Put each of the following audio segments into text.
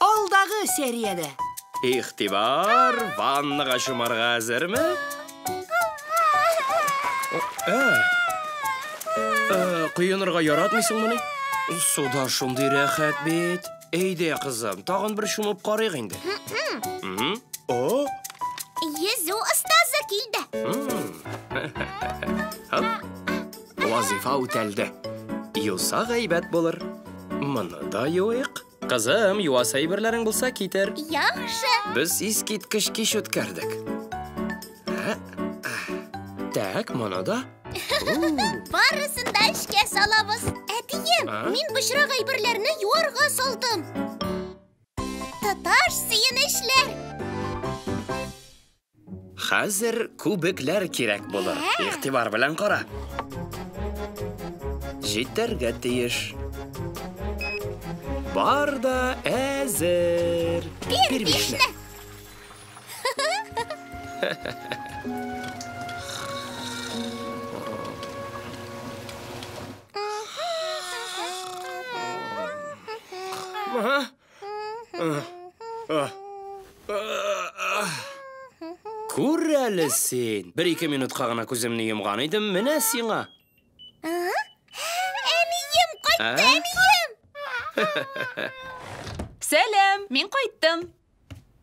Алдагы сериядә. Игътибар, ваннага чумарга әзерме? Ә, ә, коенырга яратмыйсыңмыни? Суда шундый рәхәт бит. Әйдә, кызым, тагын бер чумып карыйк инде. Мгм. О, Йөзү остазы килде. м. Һоп. Вазифа үтәлде. Юса гайбәт булыр. Моны да юыйк. Кызым, юас әйберләрең булса китер. Яхшы. Без искиткеч кич үткәрдек. Так, моны да. Барысын да эшкә салабыз. Әтием, мин бычрак әйберләрне юарга салдым. Татар сөенечләр. Хәзер күбекләр кирәк булыр. Игътибар белән кара. Җитәргә тиеш. Бар да әзер. Бир бишне. Күр әле син. Бер-ике минутка гына күземне йомган идем, менә сиңа. Әнием, кайтты, әнием! Сәлам, мин кайттым.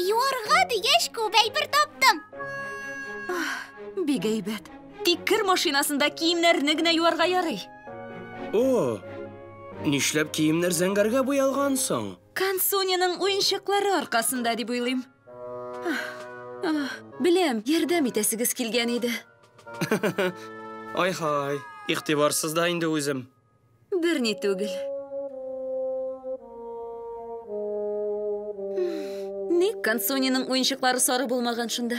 Юарга дигәч, күп әйбер таптым. Бик әйбәт. Тик кер машинасында киемнәрне генә юарга ярый. О, нишләп киемнәр зәңгәргә буялган соң? Кансуниның уенчыклары аркасында дип уйлыйм. Беләм, ярдәм итәсегез килгән иде. Ай-хай, игътибарсыз да инде үзем. Берни түгел. Ник Консуниның уенчыклары сары булмаган шунда?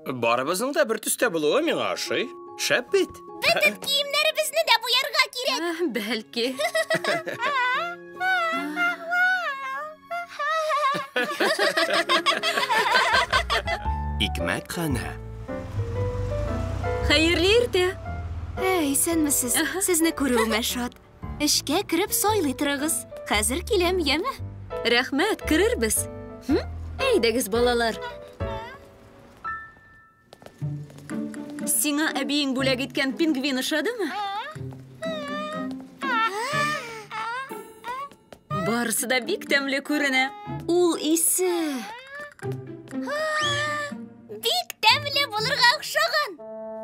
Барыбызның да бер төстә булуы миңа ошый. Шәп бит. Бөтен киемнәребезне дә буярга кирәк. Бәлки. Икмәк ханы. Хәерле иртә. Ә, исәнмесез. Сезне күрүемә шат. Эшкә кереп сайлый торыгыз. Хәзер киләм, яме? Рәхмәт, керербез. Әйдәгез, балалар. Сиңа әбиең бүләк иткән пингвин ошадымы? Барысы да бик тәмле күренә. Ул исе. Бик тәмле булырга охшаган.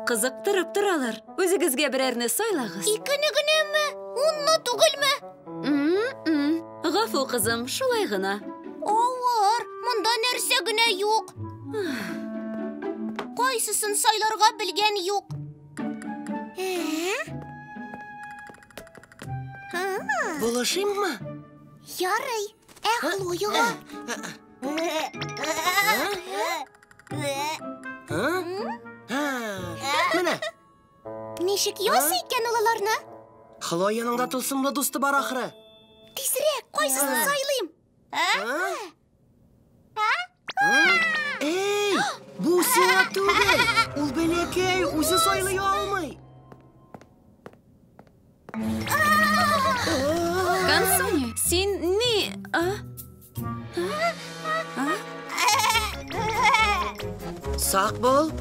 Кызыктырып торалар. Үзегезгә берәрне сайлагыз. Икене генәме? Унны түгелме? Гафу, кызым, шулай гына. Авыр, монда нәрсә генә юк. Кайсысын сайларга белгән юк. Булышыйммы? Ярый. Ә Хлояга? Ә? Ә? Менә, Ничек ясый икән ул аларны? Хлояның да тылсымлы дусты бар ахры. Тизрәк, кайсысын сайлыйм? Эй, бу сиңа түгел. Ул бәләкәй, үзе сайлый алмый. Консуни, син ни... А? А? Сак бул.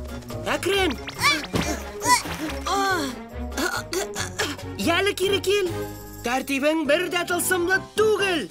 Әкрен. Яли кире кил. Тәртибең бер дә тылсымлы түгел.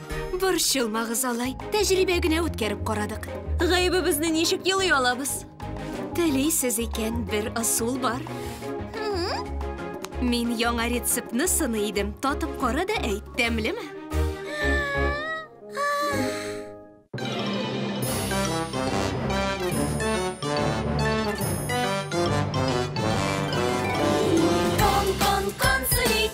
Борчылмагыз алай. Тәҗрибә генә үткәреп карадык. Гаебебезне ничек елый алабыз? Телисез икән, бер ысул бар. Мин яңа рецептны сыный идем. Татып кара да әйт, тәмлеме? Кон, кон, кон, сулит,